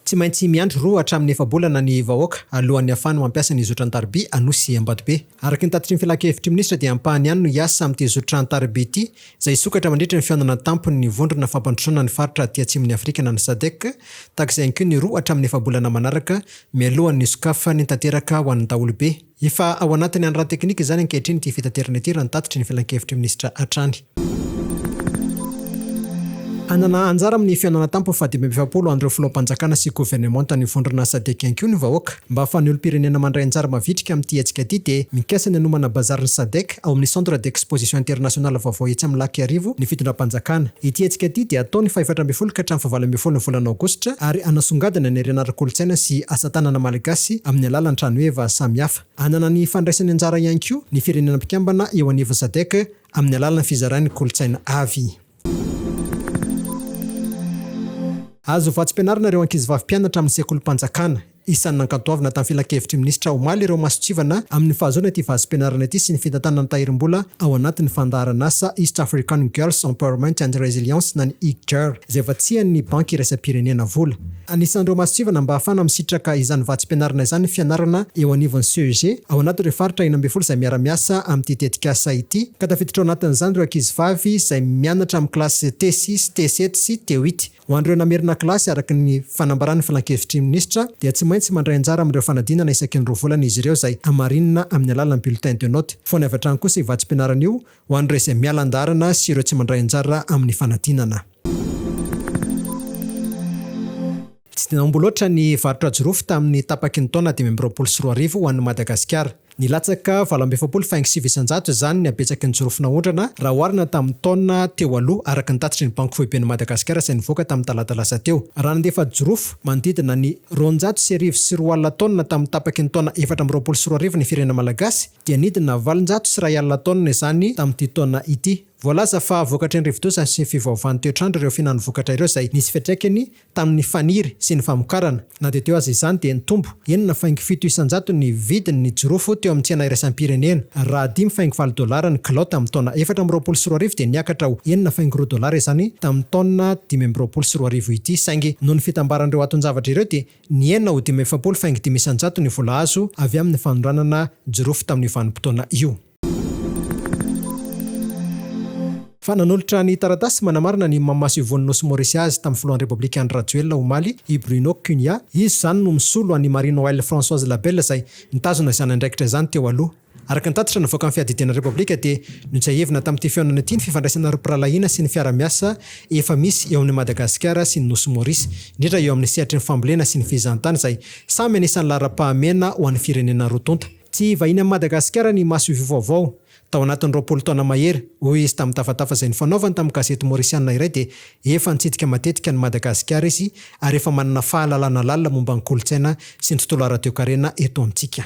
Tsy maintsy miandry roa hatramin'ny efa-bolana ny vahoaka alohan'ny hahafahany mampiasa ny zotra an-tariby Anosy Ambatobe. Araka ny tatitry ny Filan-kevitr'i Minisitra dia ampahany ihany no hiasa amin'ity zotra an-tariby ity izay hisokatra mandritra ny fihaonana an-tampon'ny Vondrona fampandrosoana ny faritra aty atsimon'i Afrika na ny Sadec tahaka izay ihany koa ny roa hatramin'ny efa-bolana manaraka mialohan'ny sokafany tanteraka ho an'ny daholobe. Efa ao anatin'ny hany ara-teknika izany ankehitriny ity fitaterana ity raha ny tatitry ny filankevitry minisitra hatrany. Hanana anjara amin'ny fihaonana tampo faha dimy amby efapolo an'ireo filoham-panjakana sy governemantan'ny vondrona Sadec ihany koa ny vahoaka. Mba ahafahan'ny olom-pirenena mandray anjara mavitrika amin'ity hetsika ity dia mikasa ny hanomana bazary ny Sadec, ao amin'ny Centre d'Exposition Internationale vaovao etsy amin'ny Lac Iarivo ny fitondram-panjakana. Ity hetsika ity dia hatao ny fahefatra ambin'ny folo ka hatramin'ny fahavalo ambin'ny folo ny volana aogositra ary hanasongadina ny harena ara-kolontsaina sy asa tanana malagasy amin'ny alalan'ny trano heva samihafa. Hanana ny fandraisany anjara ihany koa ny firenena mpikambana eo anivon'ny Sadec amin'ny alalan'ny fizarany kolontsaina avy. Azo vatsim-pianarana ireo ankizivavy mpianatra amin'ny sekolim-panjakana. Isan'ny nankantoavina tamin'ny filankevitry ny minisitra omaly ireo masontsivana amin'ny fahazoana ity vatsim-pianarana ity sy ny fitantanana ny tahirim-bola ao anatin'ny fandaharan'asa East African Girls Empowerment and Resilience na ny EAGGER izay vatsian'ny Banky Iraisam-pirenena vola. Anisan'ireo mason-tsivana mba hahafana misitraka izany vatsim-pianarana izany ny fianarana eo anivon'ny CEG ao anatin'ireo faritra enina ambin'ny folo izay miara-miasa amin'ity tetikasa ity, ka tafiditra ao anatin'izany ireo ankizivavy izay mianatra amin'ny kilasy TESI sy TESET sy TEWIT. Ho an'ireo namerina kilasy, araka ny fanambaran'ny Filan-kevitry ny Minisitra, dia tsy maintsy mandray anjara amin'ireo fanadinana isaky ny roa volana izy ireo izay hamarinina amin'ny alalan'ny bulletin de note. Foana avy hatrany kosa io vatsim-pianarana io Ho an'ireo izay miala an-dalana sy ireo tsy mandray anjara amin'ny fanadinana. Tsy dia naombo loatra ny varotra jirofo tamin'ny tapaky ny taona dimy amby roapolo sy roa arivo ho an'i Madagasikara. Nilatsaka valo amby efapolo faingo sivy isan-jato izany ny habetsaky ny jirofo naondrana raha oharina tamin'ny taona teo aloha, araka ny tatitry ny Banky Foiben'i Madagasikara izay nivoaka tamin'ny talata lasa teo. Raha nandefa jirofo manodidina ny roanjato sy arivo sy roa alina taonina tamin'ny tapaky ny taona efatra amby roapolo sy roa arivo ny firenena malagasy, dia nidina valonjato sy iray alina taonina izany tamin'ity taona ity. Voalaza fa vokatry ny rivodoza sy fivaovan'ny toetr'andro ireo fihinan'ny vokatra ireo izay nisy fiantraikany tamin'ny faniry sy ny famokarana. Na dia teo aza izany dia nitombo enina faingo fito isanjato ny vidin'ny jirofo teo amin'ny tsena iraisam-pirenena. Raha dimy faingo valo dolara ny kilao tamin'ny taona efatra amby roapolo sy roa arivo dia niakatra ho enina faingo roa dolara izany tamin'ny taona dimy amby roapolo sy roa arivo ity saingy noho ny fitambaran'ireo aton-javatra ireo dia Ny enina ho dimy efapolo faingo dimy isan-jato ny vola azo avy amin'ny fanondranana jirofo tamin'io vanim-potoana io. Fa nanolotra ny taratasy manamarina ny maha Masovon'ny Nosy Maorisy azy tamin'ny Filohan'ny Repoblika Andry Rajoelina omaly i Bruno Cunha, izy izany no misolo an'i Marine Oil Françoise Labelle izay nitazona izany andraikitra izany teo aloha. Araka ny tatitra navoakan'ny Fiadidiana Repoblika dia notsiahivina tamin'ity fihaonana ity ny fifandraisana ara-pirahalahiana sy ny fiara-miasa efa misy eo amin'i Madagasikara sy ny Nosy Maurice, indrindra eo amin'ny sehatry ny fambolena sy ny fizahantany izay samy anisan'ny laharam-pahamehana ho an'ny firenena roa tonta. Tsy vahiny amin'i Madagasikara ny masoivoho vaovao. Tao anatin'ny roapolo taona mahery, hoy izy tamin'ny tafatafa izay nifanaovany tamin'ny gazety Maorisiana iray dia efa nitsidika matetika an'i Madagasikara izy ary efa manana fahalalana lalina momba ny kolontsaina sy ny tontolo ara-toekarena eto amintsika.